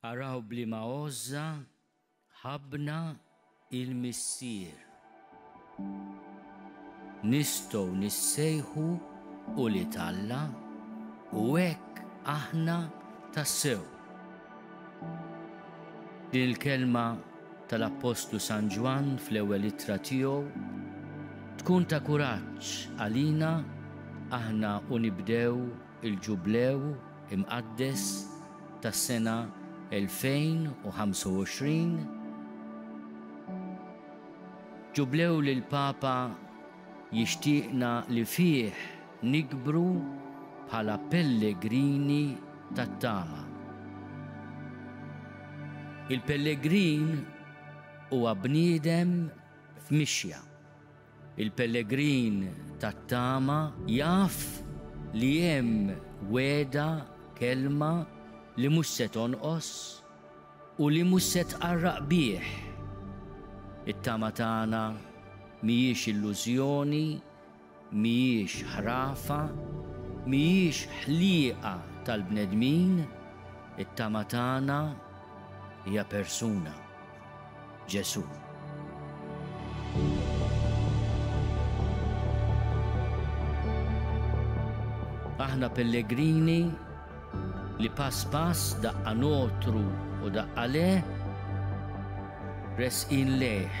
Araw bliema għożża ħabbna il-Missier. Nistgħu nissejħu ulied Alla u hekk aħna tassew. Din il-kelma tal-Appostlu San Ġwann fl-ewwel ittra tiegħu tkun ta' kuraġġ għalina aħna u nibdew il-Ġublew imqaddes tas-sena 2025, Ġublew li l-Papa Jixtieqna li fih nikbru bħala pellegrini tat-tama. Il-pellegrin huwa bniedem f'mixja. Il-pellegrin tat-tama jaf li hemm wegħda, kelma li mhux se tonqos, U li mhux se tqarraq bih. It-tama tagħna mhijiex illużjoni, mhijiex ħrafa, mhijiex ħliqa tal-bnedmin, it-tama tagħna hija persuna. Ġesù. Aħna pellegrini li pass pass daqqa notru u daqqa le, resqin lejh.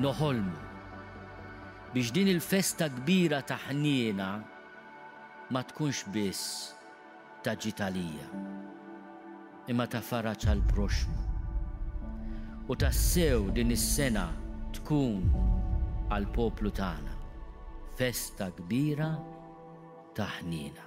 Noħolmu biex din il-festa kbira ta' ħniena ma tkunx biss ta' ġid għalija, imma ta' faraġ għall-proxxmu. U tassew din is-sena tkun għall-poplu tagħna festa kbira ta' ħniena.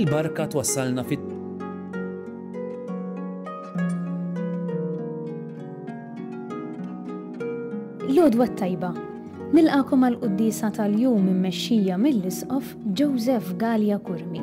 il-barka twassalna fit L-odwa tajba. Nilqakom għal quddisa tal-jum immexxija mill-Isqof Joseph Gallia Kurmi.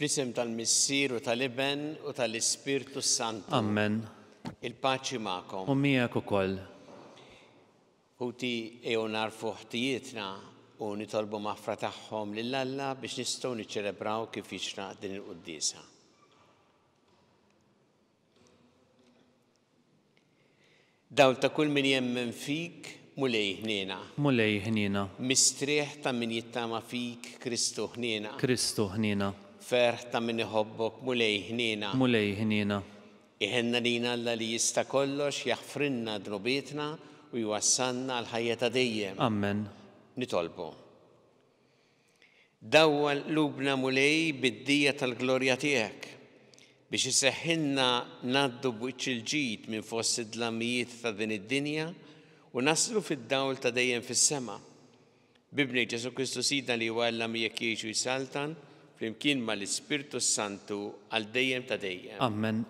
Fl-isem tal-Missier u tal-Iben u tal-Ispirtu s-Santu. Amen. Il-paċi magħkom. U miegħek ukoll. Ħuti ejjew narfu ħtijietna u nitolbu maħfra tagħhom lil Alla biex nistgħu niċċelebraw kif jixraq din il-quddiesa. Dawl ta' kull min jemmen fik, Mulej ħniena. Mulej ħniena. Mistrieħ ta' min jittama fik, Kristu ħniena. Kristu ħniena. Ferħ ta' min iħobbok, Mulej ħniena. Mulej ħniena. Iħenna lina Alla li jista' kollox jaħfrilna dnubietna u jwassalna għall-ħajja ta' dejjem. Amen. Nitolbu. Dawwa qlubna Mulej bid-dija tal-glorja tiegħek, biex iseħħilna ngħaddu b'wiċċ il-ġid minn fost id-dlamijiet ta' din id-dinja u naslu fid-dawl ta' dejjem fis-sema. B'Ibnek Ġesù Kristu Sidna li huwa Alla miegħek jgħix u jsaltan flimkien mal-Ispirtu s-Santu għal dejjem ta' dejjem. Ammen.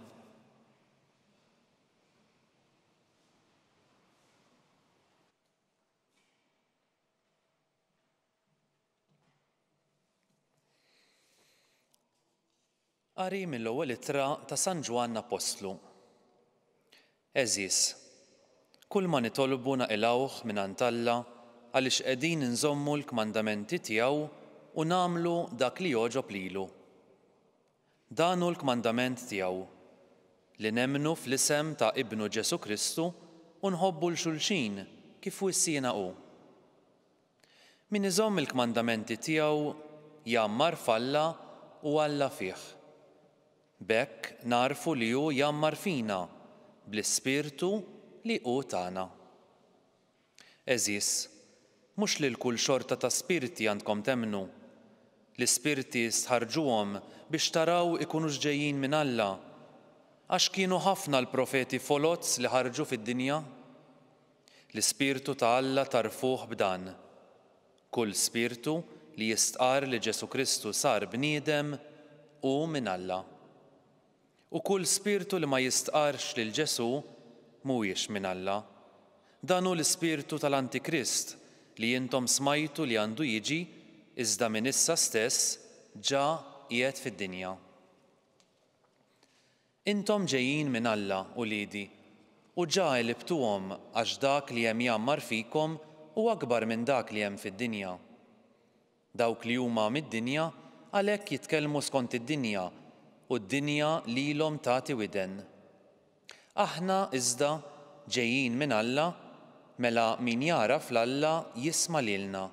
Qari mill-ewwel ittra ta' San Ġwann Appostlu. Għeżież, kull ma nitolbu naqilgħuh mingħand Alla għaliex qegħdin inżommu l-kmandamenti tiegħu u nagħmlu dak li jogħġob lilu. Dan hu l-kmandament tiegħu, li nemmnu fl-isem ta' Ibnu Ġesù Kristu u nħobbu 'l xulxin kif wissiena hu. Min iżomm il-kmandamenti tiegħu jgħammar f'Alla u Alla fih. B'hekk nagħrfu li hu jgħammar fina bl-ispirtu li hu tana. Għeżież, mhux lil kull xorta ta' spirti għandkom temmnu. L-ispirti stħarrġuhom biex taraw ikunux ġejjin minn Alla, għax kienu ħafna l-profeti foloz li ħarġu fid-dinja. L-ispirtu ta' Alla tagħrfuh b'dan, Kull spirtu li jistqarr li Ġesù Kristu sar bniedem hu minn Alla. U kull spirtu li ma jistqarrx lil Ġesù mhuwiex minn Alla. Dan hu l-ispirtu tal-Antikrist li intom smajtu li għandu jiġi iżda minn issa stess ġa qiegħed fid-dinja. Intom ġejjin minn Alla, uliedi, u ġa għelibtuhom għax dak li hemm jgħammar fikom hu akbar minn dak li hemm fid-dinja. Dawk li huma mid-dinja għalhekk jitkellmu skont id-dinja u d-dinja lilhom tagħti widen. Aħna, iżda, ġejjin minn Alla, mela min jagħraf 'l Alla jisma' lilna,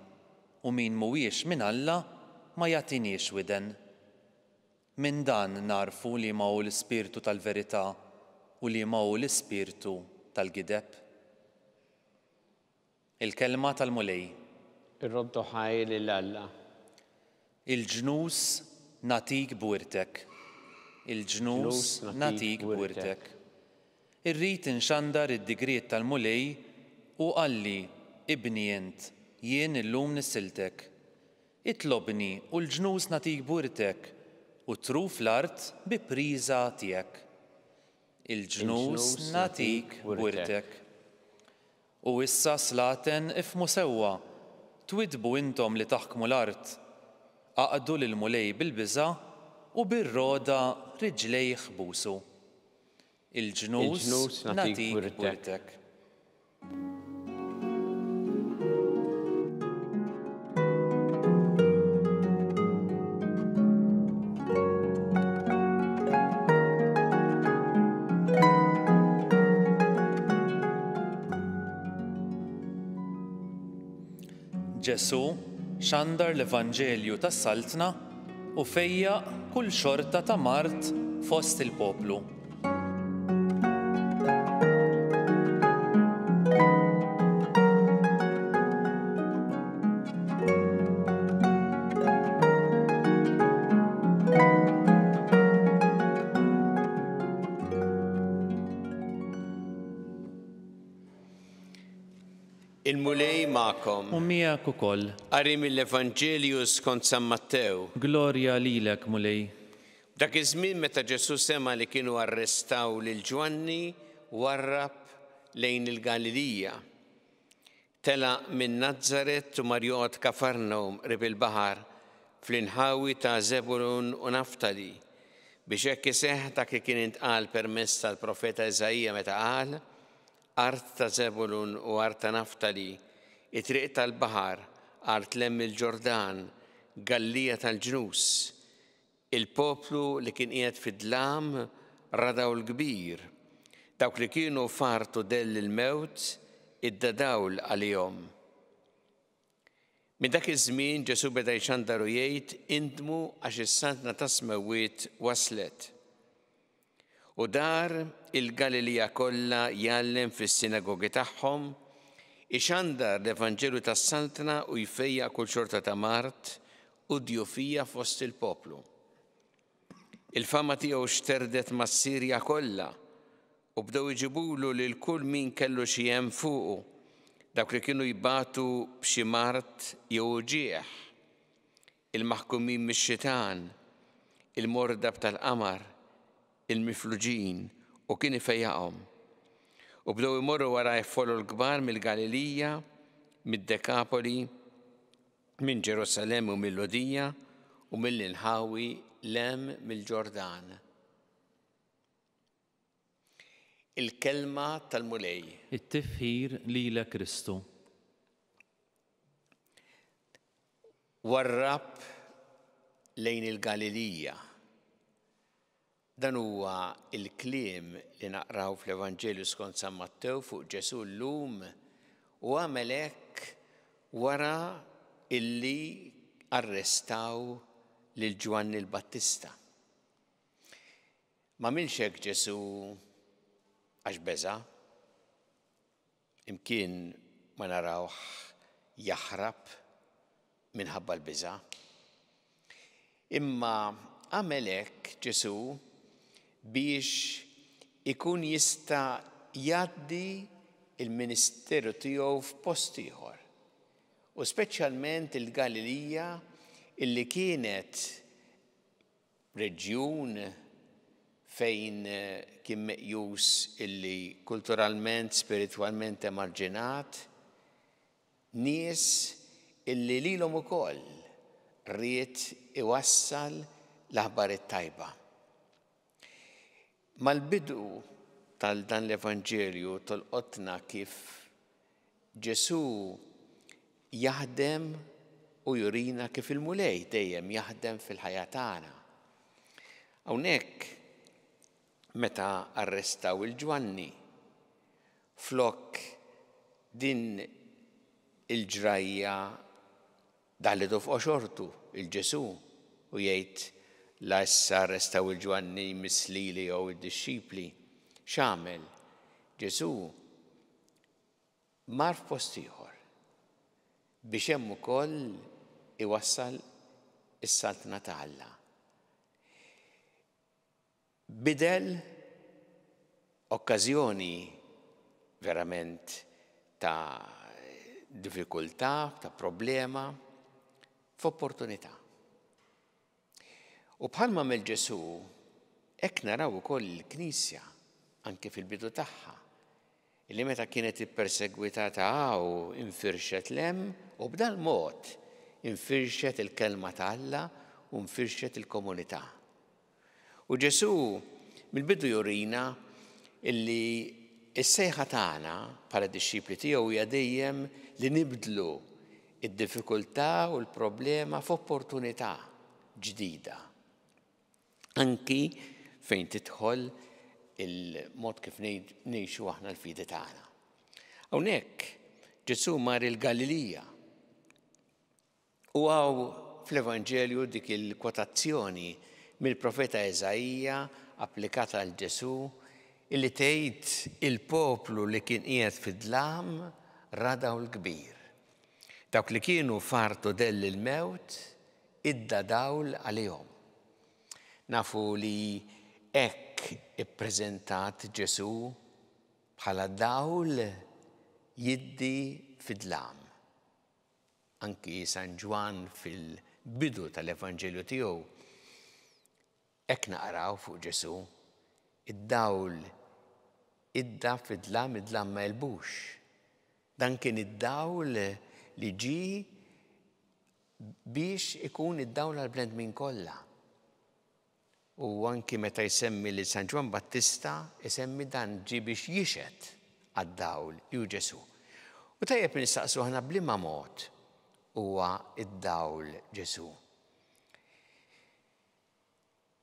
u min mhuwiex minn Alla ma jagħtiniex widen. Minn dan nagħrfu liema hu l-ispirtu tal-verità u liema hu l-ispirtu tal-gideb. Il-Kelma tal-Mulej. Irroddu ħaj lil Alla. Il-ġnus nagħtik b'wirtek. Il-ġnus nagħtik b'wirtek. Irrid inxandar id-digriet tal-Mulej u qalli, Ibni int, jien illum nissiltek. Itlobni u l-ġnus nagħtik b'wirtek, u t-truf l-art bi priża tiegħek. Il-ġnus nagħtik b'wirtek. U issa slaten ifhmu sewwa, twiddbu intom li taħkmu l-art, aqdu lill-Mulej bil-biża' u bir-rogħda riġlejh busu. Il-ġnus nagħtik wirtek. Ġesù xandar l-Evanġelju tas-Saltna u fejjaq kull xorta ta' mard fost il-poplu. Il-Mulej magħkom. U miegħek ukoll. Qari mill-Evanġelju skont San Mattew. Glorja lilek, Mulej. F'dak iż-żmien meta Ġesù sema' li kienu arrestaw lil Ġwanni, warrab lejn il-Galilija. Telaq minn Nazaret u mar joqgħod Kafarnawm qrib il-baħar, fl-inħawi ta' Żebulun u Naftali, biex hekk iseħħ dak li kien intqal permezz tal-profeta Iżaija meta qal, Art ta' Żebulun u art ta' Naftali, it-triq tal-baħar, art 'l hemm il-Ġordan, Galliegħa tal-Ġnus. Il-poplu li kien qiegħed fid-dlam ra dawl kbir. Dawk li kienu f'art u dell il-mewt iddadawl għalihom. Minn dak iż-żmien Ġesù beda jċandar u jgħid, Indmu għax is-saltna tas-smewwiet waslet. U dar il-Galilija kollha jgħallem fis-sinagogi tagħhom, ixandar l-Evanġelju tas-saltna u jfejja kull xorta ta' mart u djufija fost il-poplu. Il-fama tiegħu xterdet mas-Sirja kollha U bdew iġibulu lil kull min kellu xi hemm fuqu, dawk li kienu jbatu b'xi mard jew uġigħ, il-maħkumin mix-xitan, il-mordab tal-qamar, il-mifluġin, u kien ifejjaqhom. U bdew imorru wara f'folol kbar mill-Galilija, mid-Dekapoli, minn Ġerusalemm u mill-Lhudija u mill-inħawi 'l hemm mill-Ġordan. Il-Kelma tal-Mulej. It-tifħir lilek Kristu. Warrab lejn il-Galilija. Dan huwa il-kliem li naqraw fl-Evanġelju skont San Mattew fuq Ġesu llum u għamel hekk wara illi arrestaw lil Ġwanni l-Battista. M'għamilx hekk Ġesù għax beża'. Imkien ma narawh jaħrab minħabba l-biża'. Imma għamel hekk Ġesù biex ikun jista' jgħaddi l-ministeru tiegħu f'post ieħor, u speċjalment il-Galilija li kienet reġjun fejn kien meqjus illi kulturalment, spiritwalment emarġinat, nies illi lilhom ukoll ried iwassal l-aħbar it-tajba. Mal-bidu tal dan l-Evanġelju tolqotna kif Ġesù jaħdem u jurina kif il-Mulej dejjem jaħdem fil-ħajja tagħna. Hawnhekk meta arrestaw il-Ġwanni flok din il-ġrajja Daħlitu f'qoxortu, il Ġesù, u jgħid, La issa arrestaw il Ġwanni jmiss lili jew id-dixxipli. X'għamel? Ġesù mar f'post ieħor biex hemm ukoll iwassal is-Saltna ta' Alla. Bidel okkażjoni verament ta' diffikultà, ta' problema, f'opportunità. U bħalma għamel Ġesù, hekk naraw ukoll il-Knisja, anke fil-bidu tagħha, li meta kienet ippersegwitata hawn infirxet lem u b'dal mod infirxet il-kelma ta' Alla u nfirxet il-komunità. U Ġesù mill-bidu jurina illi s-sejħa tagħna bħala dixxipli tiegħu hija dejjem li nibdlu id-diffikultà u l-problema f'opportunità ġdida. Anki fejn tidħol il-mod kif ngħixu aħna l-fidi tagħna. Hawnhekk Ġesù mar il-Galilija. U hawn fl-Evanġelju dik il-kwotazzjoni mill-profeta Eżaija applikata għal Ġesù illi tgħid il-poplu li kien qiegħed fid-dlam ra dawl kbir. Dawk li kienu f'artu dell il-mewt idda dawl għalihom. Nafu li hekk ippreżentat Ġesù bħala dawl jiddi fid-dlam. Anki San Ġwann fil-bidu tal-Evanġelju tiegħu hekk naqraw fuq Ġesù, Id-dawl idda fid-dlam, id-dlam ma għelbux. Dan kien id-dawl li ġie biex ikun id-dawl għall-bnedmin kollha. U anki meta jsemmi lil San Ġwann Battista, isemmi dan ġie biex jixhed għad-dawl, li hu Ġesù. U tajjeb li nistaqsu aħna b'liema mod huwa d-dawl Ġesù?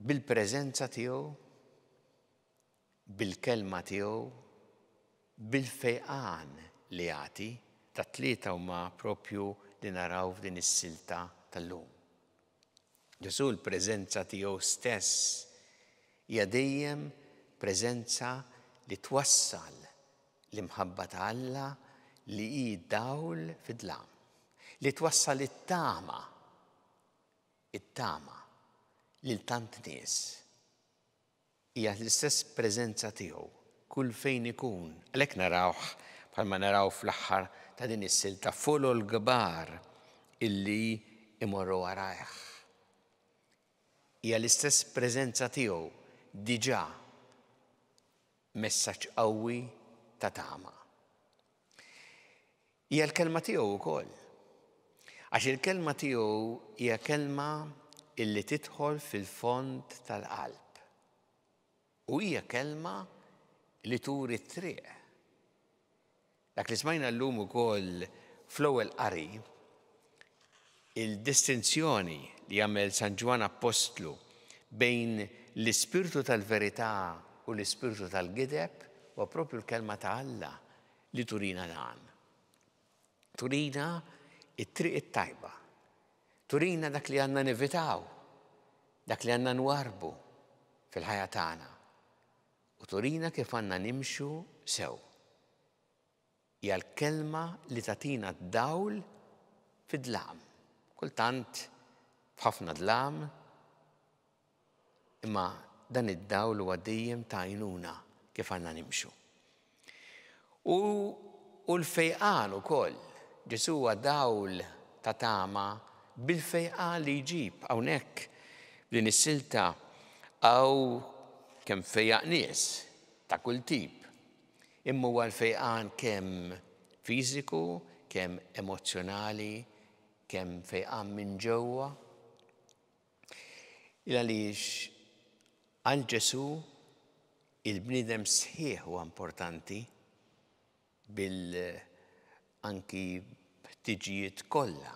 Bil-preżenza tiegħu? bil-Kelma tiegħu, bil-fejqan li jagħti. Tat-tlieta huma proprju li naraw f'din is-silta tal-lum. Ġesù l-preżenza tiegħu stess hija dejjem preżenza li twassal l-imħabba ta' Alla li hi dawl fid-dlam, li twassal it-tama, it-tama lil tant nies. Hija l-istess preżenza tiegħu kull fejn ikun. Għalhekk narawh bħalma naraw fl-aħħar ta' din is-silta folol kbar illi jmorru warajh. Hija l-istess preżenza tiegħu diġà messaġġ qawwi ta' tama. Hija l-Kelma tiegħu wkoll. Għax il-Kelma tiegħu hija kelma illi tidħol fil-fond tal-qalb. U hija kelma li turi t-triq. Dak li smajna llum ukoll fl-ewwel qari, il-distinzjoni li jagħmel San Ġwann Appostlu bejn l-ispirtu tal-verità u l-ispirtu tal-gideb huwa proprju l-Kelma ta' Alla li turina l-għan. Turina it-triq it-tajba. Turina dak li għandna nevitaw, dak li għandna nwarbu fil-ħajja tagħna. U turina kif għandna nimxu sew. Hija l-kelma li tatina d-dawl fid-dlam. Kultant f'ħafna dlam Imma dan id-dawl huwa dejjem ta' għajnuna kif għandna nimxu. U hu l-fejqan ukoll. Ġesù huwa dawl ta' tama bil-fejqan li jġib. Hawnhekk, f'din is-silta, hawn kemm fejjaq nies ta' kull tip. Imma huwa l-fejqan kemm fiżiku, kemm emozzjonali, kemm fejqan minn ġewwa. Il għaliex għal Ġesù il-bniedem sħiħ huwa importanti bil anki ħtiġijiet kollha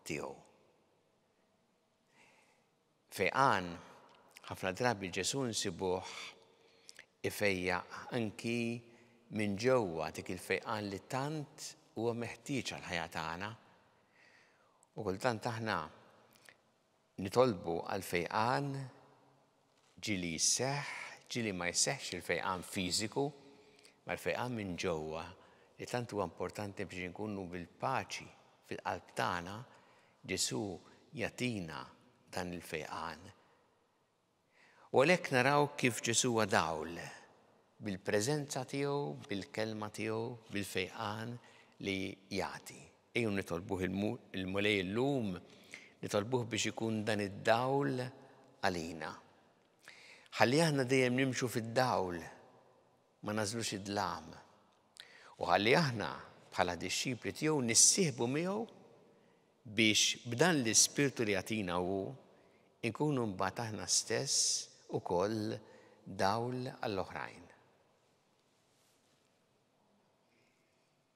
tiegħu. Fejqan ħafna drabi Ġesù nsibuh ifejja anki minn ġewwa dik il-fejqan li tant huwa meħtieġ għal ħajja tagħna. U kultant aħna Nitolbu għall-fejqan, ġieli jseħħ, ġieli ma jseħħx il-fejqan fiżiku, ma l-fejqan minn ġewwa li tant huwa importanti biex inkunu bil-paċi fil-qalb tagħna, Ġesù jagħtina dan il-fejqan. U għalhekk naraw kif Ġesù huwa dawl, bil-preżenza tiegħu, bil-kelma tiegħu, bil-fejqan li jagħti. Ejjew nitolbuh il-Mulej illum, nitolbuh biex ikun dan id-dawl għalina. Ħalli aħna dejjem nimxu fid-dawl ma nagħżlux id-dlam, u ħalli aħna bħala dixxipli tiegħu nissieħbu miegħu biex b'dan l-ispirtu li jagħtina hu inkunu mbagħad aħna stess ukoll dawl għall-oħrajn.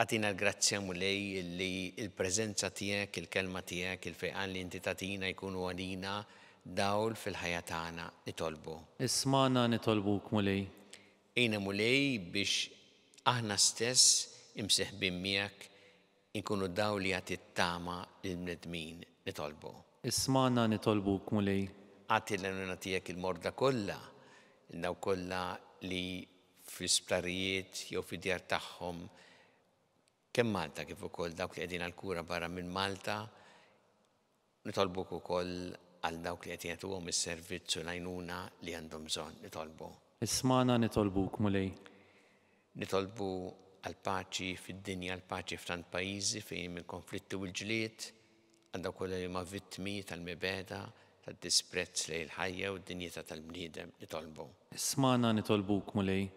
Agħtina l-grazzja, Mulej, illi l-preżenza tiegħek, il-Kelma tiegħek, il-fejqan li inti tagħtina jkunu għalina dawl fil-ħajja tagħna. Nitolbu. Ismagħna nitolbuk, Mulej. Għinna, Mulej, biex aħna stess, imseħbin miegħek, inkunu dawl li jagħti t-tama lill-bnedmin. Nitolbu. Ismagħna nitolbuk, Mulej. Agħti lill-għajnuna tiegħek il-morda kollha, lil dawk kollha li fl-isptarijiet jew fid-djar tagħhom kemm Malta kif ukoll dawk li qegħdin għall-kura barra minn Malta. Nitolbuk ukoll għal dawk li qed jagħtuhom is-servizz u l-għajnuna li għandhom bżonn. Nitolbu. Ismagħna nitolbuk, Mulej. Nitolbu għall-paċi fid-dinja, l-paċi f'tant pajjiżi fejn hemm il-konflitti u l-ġlied. Għal dawk kollha li huma vittmi tal-mibegħda, tad-disprezz lejn il-ħajja u d-dinjità tal-bniedem, nitolbu. Ismagħna nitolbuk, Mulej.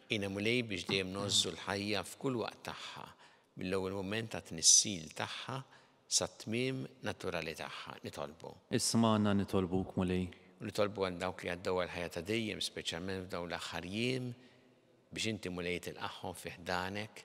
Għinna, Mulej, biex dejjem ngħożżu l-ħajja f'kull waqt tagħha, mill-ewwel mument ta' tnissil tagħha sat-tmiem naturali tagħha, nitolbu. Ismagħna nitolbuk, Mulej. U nitolbu għal dawk li għaddew għal ħajja ta' dejjem, speċjalment f'dawn l-aħħar jiem, biex Inti, Mulej, tilqagħhom fi ħdanek,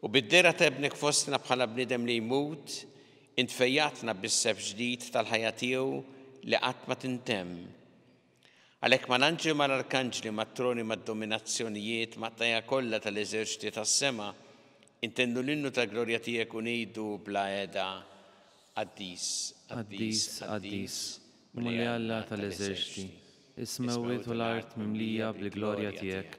U bid-dehra ta' Ibnek fostna bħala bniedem li jmut, int fejjaqtna bis-sefs ġdid tal-ħajja tiegħu li qatt ma tintemm. Għalhekk mal-anġli u mal-arkanġli, mat-troni, mad-dominazzjonijiet, mat-tajja kollha tal-eżerċti tas-sema, intennu l-innu tal-glorja tiegħek u ngħidu bla heda, Qaddis, qaddis, qaddis, Mulej Alla tal-eżerċti, is-smewwiet u l-art mimlija bil-glorja tiegħek,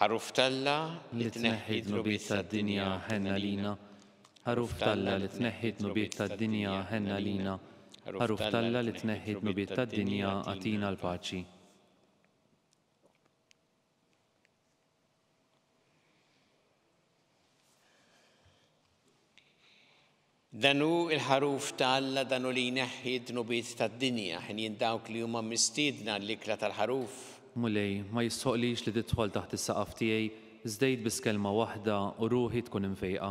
Ħaruf t'Alla li tneħħi dnubiet tad-dinja ħenna lina. Ħaruf t'Alla li tneħħi dnubiet tad-dinja ħenna lina. Ħaruf t'Alla li tneħħi dnubiet tad-dinja għatina l-paċi. Dan hu l-ħaruf ta' Alla dan hu li jneħħi d-dnubiet tad-dinja, ħinjin dawk li huma mistiedna għall-ikla tal-ħaruf. Mulej, ma jistħoqlix li tidħol taħt is-saqaf tiegħi, żdejt biss kelma waħda u ruħi tkun imfejqa.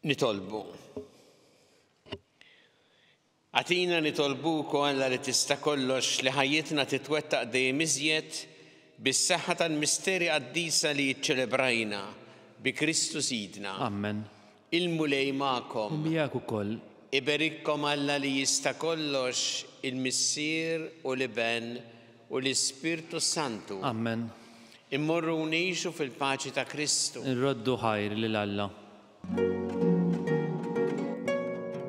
Nitolbu. Għatina nitolbu kolla li tista' kollox li ħajjitna titwettaq dejjem iżjed bis-saħħa tal-misteri qaddisa li ċċelebrajna bi Kristu Sidna. Amen. Il-Mulej magħkom. U miegħek ukoll. Iberikkom Alla li Jista' Kollox, il-Missier u l-Iben u l-Ispirtu s-Santu. Amen. Immorru u ngħixu fil-paċi ta' Kristu. Nroddu ħajr lil Alla.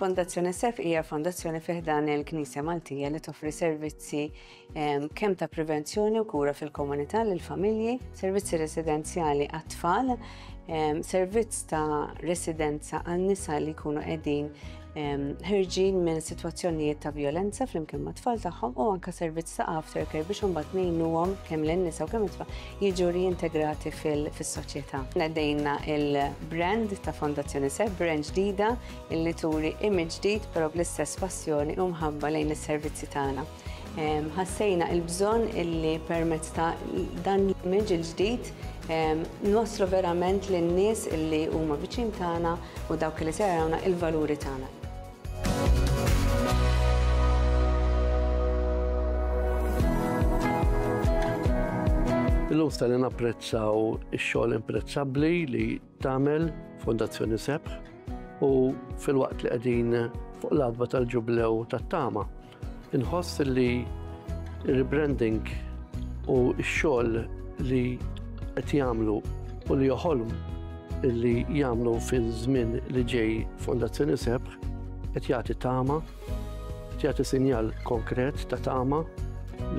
Fondazzjoni SF hija fondazzjoni fi ħdan il-Knisja Maltija li toffri servizzi ehm, kemm ta' prevenzjoni u kura fil-komunità lil familji, servizzi residenzjali għat-tfal, ehm, servizz ta' residenza għan nisa li jkunu qegħdin ħirġin minn sitwazzjonijiet ta' violenza flimkien ma' tfal tagħhom u anka servizz ta' aftercare biex imbagħad ngħinuhom kemm lin nisa u kemm it-tfal jiġu riintegrati fis-soċjetà. Nedejna il-brand ta' Fondazzjoni Seb brand ġdida illi turi image ġdid però bl-istess passjoni u mħabba lejn is-servizzi tagħna. Ħassejna il-bżonn illi permezz ta' dan l-image il-ġdid nwasslu verament lin-nies illi huma viċin tagħna u dawk li se jarawna il-valuri tagħna. Illum se napprezzaw ix-xogħol imprezzabbli li tagħmel Fondazzjoni Sebħ u filwaqt li qegħdin fuq l-adba tal-ġublew tat-tama. Inħoss li rebranding u x-xogħol li qed jagħmlu u li joħolm li jagħmlu fiż-żmien li ġej Fondazzjoni Sebħ qed jagħti tama Jagħti sinjal konkret ta' tama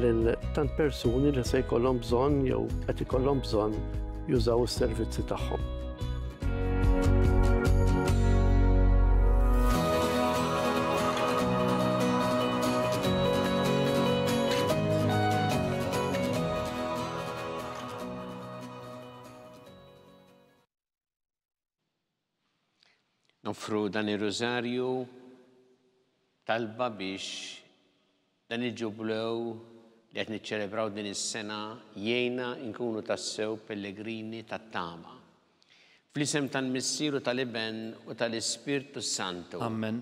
lil tant persuni li se jkollhom bżonn jew qed ikollhom bżonn jużaw is-servizzi tagħhom. Noffru dan ir-Rużarju talba biex dan il-ġublew li qed niċċelebraw din is-sena jgħinna nkunu tassew pellegrini tat-tama. Fl-isem tal-Missier u tal-Iben u tal-Ispirtu s-Santu. Amen.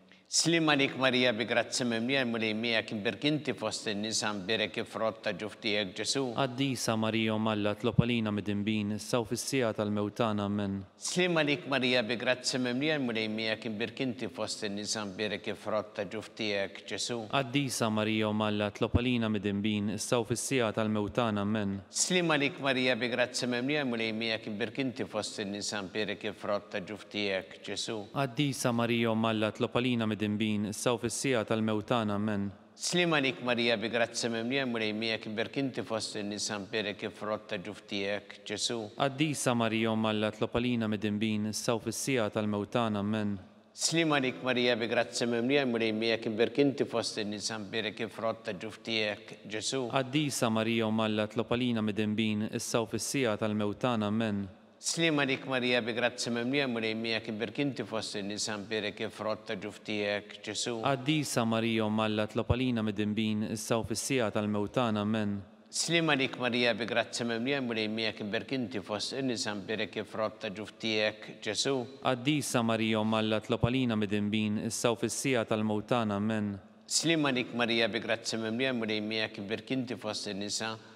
Sliem għalik Marija bi grazzja mimlija l-Mulej miegħek imbierk inti fost in-nisa mbierek il-frott ta' ġuf tiegħek Ġesu. Qaddisa Marija Omm Alla tlob għalina midinbin issa u fis-siegħa tal-mewt tagħna Amen. Sliem għalik Marija bi grazzja mimlija l-Mulej miegħek imbierk inti fost in-nisa mbierek il-frott ta' ġuf tiegħek Ġesu. Qaddisa Marija Omm Alla tlob għalina midinbin issa u fis-siegħa tal-mewt tagħna Amen. Sliem għalik Marija bi grazzja mimlija l-Mulej miegħek imbierk inti fost in-nisa mbierek il-frott ta' ġuf tiegħek. Ġesu. Qaddisa Marija Omm Alla tlob għalina midinbin issa u fis-siegħa tal-mewt tagħna. Amen. Sliem għalik Marija bi grazzja mimlija l-Mulej miegħek imberk inti fost in-nisa mberek il-frott ta' ġuf tiegħek, Ġesu. Qaddisa Marija Omm Alla tlob għalina midinbin issa u fis-siegħa tal-mewt tagħna. Amen. Sliem għalik Marija bi grazzja mimlija l-Mulej miegħek imberk inti fost in-nisa mberek il-frott ta' ġuf tiegħek, Ġesu. Qaddisa Marija Omm Alla tlob għalina midinbin issa u fis-siegħa tal-mewt tagħna. Amen. Slim għalik Marija bi grazzi mimlija l-Mulej miegħek ibbierki inti fost in-nisa mbierek il-frott ta' ġuf tiegħek, Ġesu'. Qaddisa Marija Omm Alla tlob għalina midinbin issa u fis-siegħa tal-mewt tagħna, Amen. Slim għalik Marija bi grazzi mimlija l-Mulej miegħek ibbierki inti fost in-nisa mbierek il-frott ta' ġuf tiegħek, Ġesu'. Qaddisa Marija Omm Alla tlob għalina midinbin issa u fis-siegħa tal-mewt tagħna, Amen. Slim għalik Marija bi grazzi mimlija l-Mulej miegħek ibbierki inti fost in-nisa,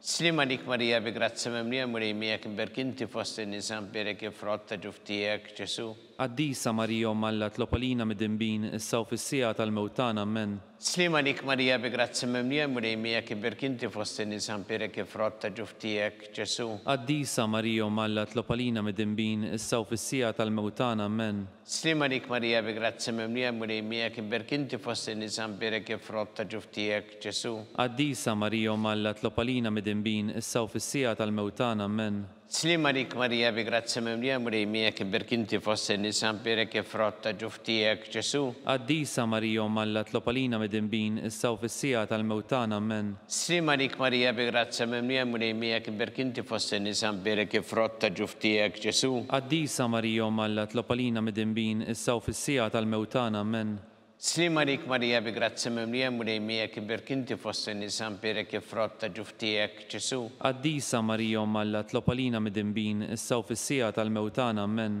Sliem għalik Marija bi grazzja mimlija l-Mulej miegħek imberk inti fost in-nisa mberek il-frott ta' ġuf tiegħek Ġesu'. Qaddisa Marija Omm Alla tlob għalina midinbin issa u fis-siegħa tal-mewt tagħna Ammen. Sliem għalik Marija bi grazzja mimlija l-Mulej miegħek imberk inti fost in-nisa mberek il-frott ta' ġuf tiegħek Ġesu'. Qaddisa Marija Omm Alla tlob għalina midinbin issa u fis-siegħa tal-mewt tagħna Ammen. Sliema għalik Marija bi grazzja mimlija l-Mulej miegħek imberk inti fost in-nisa mbierek il-frott ta' ġuf tiegħek Ġesu'. Qaddisa Marija Omm Alla tlob għalina midinbin issa u fis-siegħa tal-mewt tagħna Ammen. Sliema għalik Marija bi grazzja mimlija l-Mulej miegħek imberk inti fost in-nisa mbierek il-frott ta' ġuf tiegħek Ġesu'. Qaddisa Marija Omm Alla tlob għalina midinbin issa u fis-siegħa tal-mewt tagħna Ammen. Slim għalik Marija bi grazzja mimlija l-Mulej miegħek imberk inti fost in-nisa mbierek il-frott ta' ġuf tiegħek Ġesu'. Qaddisa Marija Omm Alla tlob għalina midinbin issa u fis-siegħa tal-mewt tagħna Ammen. Slim għalik Marija bi grazzja mimlija l-Mulej miegħek imberk inti fost in-nisa mbierek il-frott ta' ġuf tiegħek Ġesu'. Qaddisa Marija Omm Alla tlob għalina midinbin issa u fis-siegħa tal-mewt tagħna Ammen.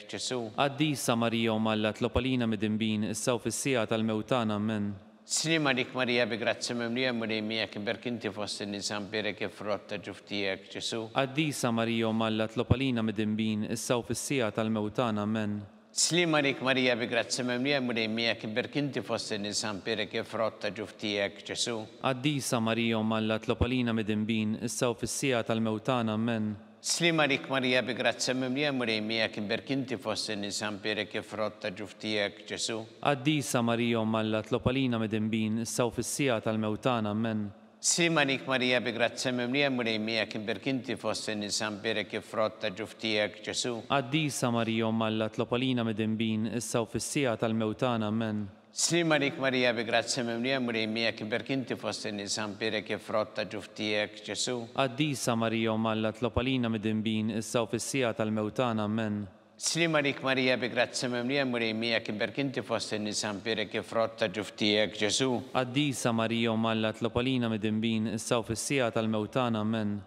Ġesu'. Qaddisa Marija Omm Alla tlob għalina midinbin, issa u fis-siegħa tal-mewt tagħna. Ammen. T-slim għalik Marija bi grazzja mimlija l-Mulej miegħek imberk inti fost in-nisa mbierek il-frott ta' ġuf tiegħek, Ġesu'. Qaddisa Marija Omm Alla tlob għalina midinbin, issa u fis-siegħa tal-mewt tagħna. Ammen. T-slim għalik Marija bi grazzja mimlija l-Mulej miegħek imberk inti fost in-nisa mbierek il-frott ta' ġuf tiegħek, Ġesu'. Qaddisa Marija Omm Alla tlob għalina midinbin, issa u fis-siegħa tal-mewt tagħna. Ammen. Sliem għalik Marija bi grazzja mimlija L-Mulej miegħek imberk inti fost in-nisa mpiérek il-frott ta' ġuf tiegħek, Ġesù. Qaddisa Marija Omm Alla tlob għalina midinbin issa u fis-siegħa tal-mewt tagħna, Ammen. Sliem għalik Marija bi grazzja mimlija L-Mulej miegħek imberk inti fost in-nisa mpiérek il-frott ta' ġuf tiegħek, Ġesù. Qaddisa Marija Omm Alla tlob għalina midinbin issa u fis-siegħa tal-mewt tagħna, Ammen. Slim għalik Marija bi grazzja mimlija l-Mulej miegħek iberk inti fost in-nisa mbierek il-frott ta' ġuf tiegħek Ġesù. Qaddisa Marija Omm Alla tlob għalina midinbin issa u fis-siegħa tal-mewt tagħna Ammen. Slim għalik Marija bi grazzja mimlija l-Mulej miegħek iberk inti fost in-nisa mbierek il-frott ta' ġuf tiegħek Ġesù. Qaddisa Marija Omm Alla tlob għalina midinbin issa u fis-siegħa tal-mewt tagħna Ammen.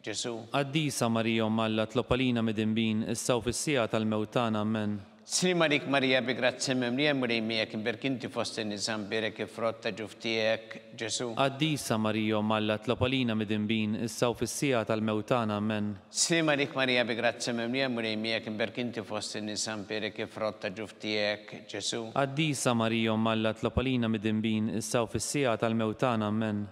Ġesu'. Qaddisa Marija Omm Alla tlob għalina midinbin, issa u fis-siegħa tal-mewt tagħna. Ammen. Slim għalik Marija bi grazzja mimlija Mulej miegħek imberk inti fost in-nisa mbierek il-frott ta' ġuf tiegħek, Ġesu'. Qaddisa Marija Omm Alla tlob għalina midinbin, issa u fis-siegħa tal-mewt tagħna. Ammen. Slim għalik Marija bi grazzja mimlija Mulej miegħek imberk inti fost in-nisa mbierek il-frott ta' ġuf tiegħek, Ġesu'. Qaddisa Marija Omm Alla tlob għalina midinbin, issa u fis-siegħa tal-mewt tagħna. Ammen.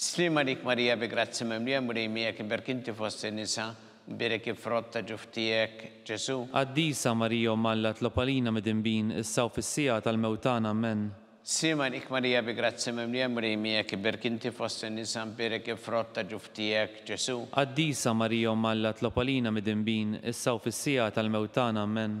Slim għalik Marija bi grazzja mimlija l-Mulej miegħek iberk inti fost in-nisa, mbierek il-frott ta' ġuf tiegħek Ġesu'. Qaddisa Marija Omm Alla tlob għalina midinbin issa u fis-siegħa tal-mewt tagħna Ammen. Slim għalik Marija bi grazzja mimlija l-Mulej miegħek iberk inti fost in-nisa mbierek il-frott ta' ġuf tiegħek Ġesu'. Qaddisa Marija Omm Alla tlob għalina midinbin issa u fis-siegħa tal-mewt tagħna Ammen.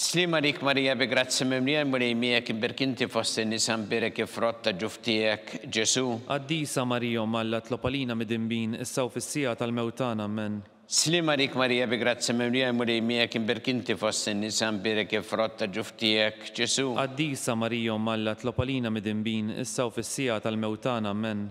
Sliem għalik Marija bi grazzja mimlija l-Mulej miegħek imbierk inti fost in-nisa mbierek il-frott ta' ġuf tiegħek Ġesu'. Qaddisa Marija Omm Alla tlob għalina midinbin issa u fis-siegħa tal-mewt tagħna Ammen. Sliem għalik Marija bi grazzja mimlija l-Mulej miegħek imbierk inti fost in-nisa mbierek il-frott ta' ġuf tiegħek Ġesu'. Qaddisa Marija Omm Alla tlob għalina midinbin issa u fis-siegħa tal-mewt tagħna Ammen.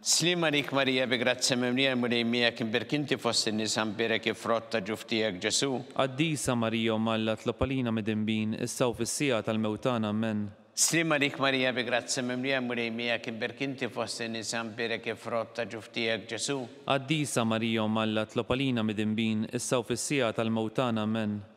Sliem għalik Marija bi grazzja mimlija l-Mulej miegħek imberk inti fost in-nisa mbierek il-frott ta' ġuf tiegħek Ġesu'. Qaddisa Marija Omm Alla tlob għalina midinbin issa u fis-siegħa tal-mewt tagħna Ammen. Sliem għalik Marija bi grazzja mimlija l-Mulej miegħek imberk inti fost in-nisa mbierek il-frott ta' ġuf tiegħek Ġesu'. Qaddisa Marija Omm Alla tlob għalina midinbin issa u fis-siegħa tal-mewt tagħna Ammen.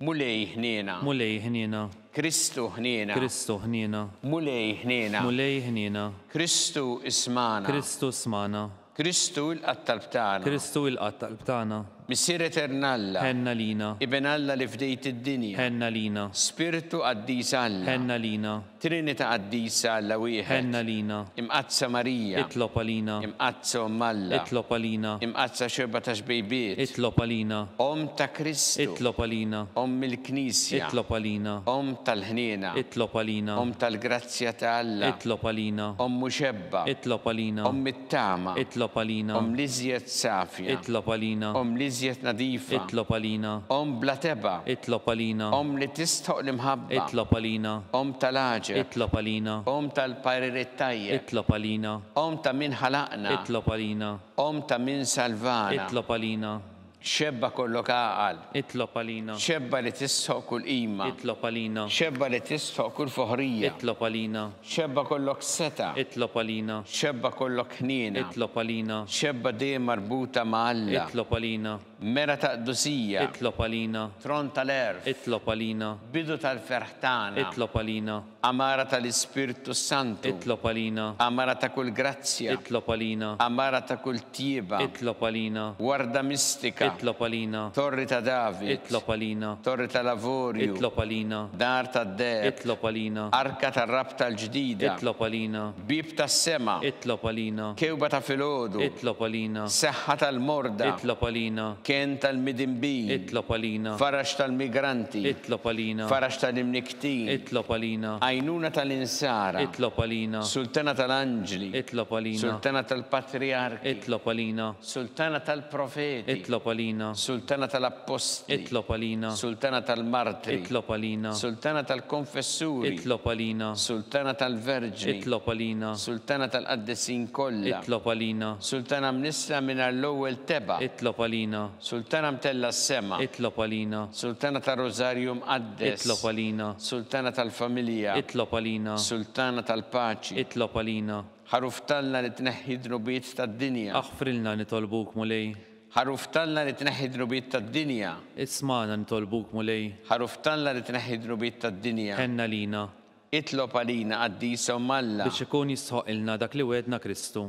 Mulej ħniena. Mulej ħniena. Kristu ħniena. Kristu ħniena. Mulej ħniena. Mulej ħniena. Kristu ismagħna. Kristu smagħna. Kristu ilqa' t-talb tagħna. Kristu ilqa' t-talb tagħna. Missier Etern Alla. Ħenn għalina. Iben Alla li fdejt id-dinja. Ħenn għalina. Spirtu qaddis Alla. Ħenn għalina. Trinita' Qaddisa Alla Wieħed. Għenn għalina. Imqaddsa Marija. Itlob għalina. Imqaddsa Omm Alla. Itlob għalina. Imqaddsa Xebgħa ta' Xbejbiet. Itlob għalina. Omm ta' Kristu. Itlob għalina. Omm il-Knisja. Itlob għalina. Omm tal-ħniena. Itlob għalina. Omm tal-grazzja ta' Alla. Itlob għalina. Omm Muxebba. Itlob għalina. Omm It-tama. Itlob għalina. Omm l-iżjed safja. Itlob għalina. Omm l-iżjed nadifa. Itlob għalina. Omm bla tebgħa. Itlob għalina. Omm li tistħoq l-imħabba. Itlob għalina. Omm tal-għaġeb. Itlob għalina. Omm tal-paririet tajjeb. Itlob għalina. Omm ta' min ħalaqna. Itlob għalina. Omm ta' min salvana. Itlob għalina. Xebba kollok għaqal. Itlob għalina. Xebba li tistħoq kull qima. Itlob għalina. Xebba li tistħoq kull foħrija. Itlob għalina. Xebba kollok setgħa. Itlob għalina. Xebba kollok ħniena. Itlob għalina. Xebba dejjem marbuta ma' Alla. Itlob għalina. Mera ta' qdusija. Itlob għalina. Tron tal-għerf. Itlob għalina. Bidu tal-ferħ tagħna. Itlob għalina. Għamara ta' l-Ispirtu s-Santu. Itlob għalina. Għamara ta' kull grazzja. Itlob għalina. Għamara ta' kull tjieba. Itlob għalina. Warda mistika. Itlob għalina. Torri ta' David. Itlob għalina. Torri ta' l-Avorju. Itlob għalina. Dar tad-Deheb. Itlob għalina. Arka tar-Rabta l-Ġdida. Itlob għalina. Bieb tas-sema. Itlob għalina. Kewba ta' filgħodu. Itlob għalina. Seħħa tal-morda. Itlob għalina. Kenn tal-midinbin. Itlob għalina. Farax tal-migranti. Itlob għalina. Farax ta' l-imniektin. Ħajtin. Itlob għalina. Għajnuna tal-Insara. Itlob għalina. Sultana tal-Anġli. Itlob għalina. Sultana tal-Patrijarki. Itlob għalina. Sultana tal-Profeti. Itlob għalina. Sultana tal-Appostli. Itlob għalina. Sultana tal-Martri. Itlob għalina. Sultana tal-Konfessuri. Itlob għalina. Sultana tal-Verġni. Itlob għalina. Sultana tal-Qaddisin kollha. Itlob għalina. Sultana mnissla mingħajr l-ewwel tebgħa. Itlob għalina. Sultana mtellgħa s-sema. Itlob għalina. Sultana tar-Rużarju Mqaddes. Mqaddes, itlob għalina. Sultana tal-familja, itlob għalina. Sultana tal-paċi, itlob għalina. Ħaruf t'Alla li tneħħi d-dnubiet tad-dinja. Aħfrilna nitolbuk, Mulej. Ħaruf t'Alla li tneħħi d-dnubiet tad-dinja. Ismagħna nitolbuk, Mulej. Ħaruf t'Alla li tneħħi d-dnubiet tad-dinja. Ħenn għalina. Itlob għalina, Qaddisa Omm Alla. Biex ikun jistħoqqilna dak li wegħedna Kristu.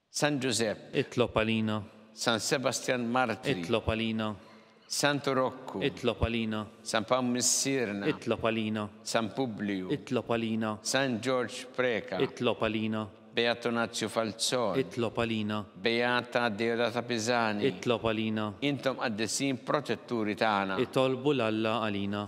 San Ġużepp. Itlob għalina. San Sebastjan Martri. Itlob għalina. Santu Rokku. Itlob għalina. San Pawl Missierna. Itlob għalina. San Publiju. Itlob għalina. San Ġorġ Preca. Itlob għalina. Beatu Nazju Falzon. Itlob għalina. Beata Deodata Pisani. Itlob għalina. Intom qaddisin protetturi tagħna. Itolbu 'l Alla għalina.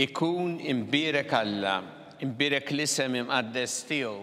Ikun imbirek Alla, imbirek l-isem imqaddes tiegħu.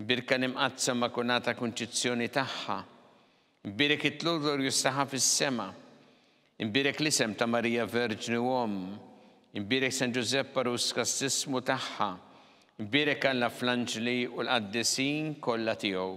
Birka l-Imqaddsa Makulata Kunċizzjoni tagħha. Imbierek it-tlul glorjuż tagħha fis-sema. Imbierek l-isem ta' Marija Verġni u Omm. Imbierek San Ġużepp Għarus Kastissmu tagħha. Imbierek Alla fl-anġli u l-qaddisin kollha tiegħu.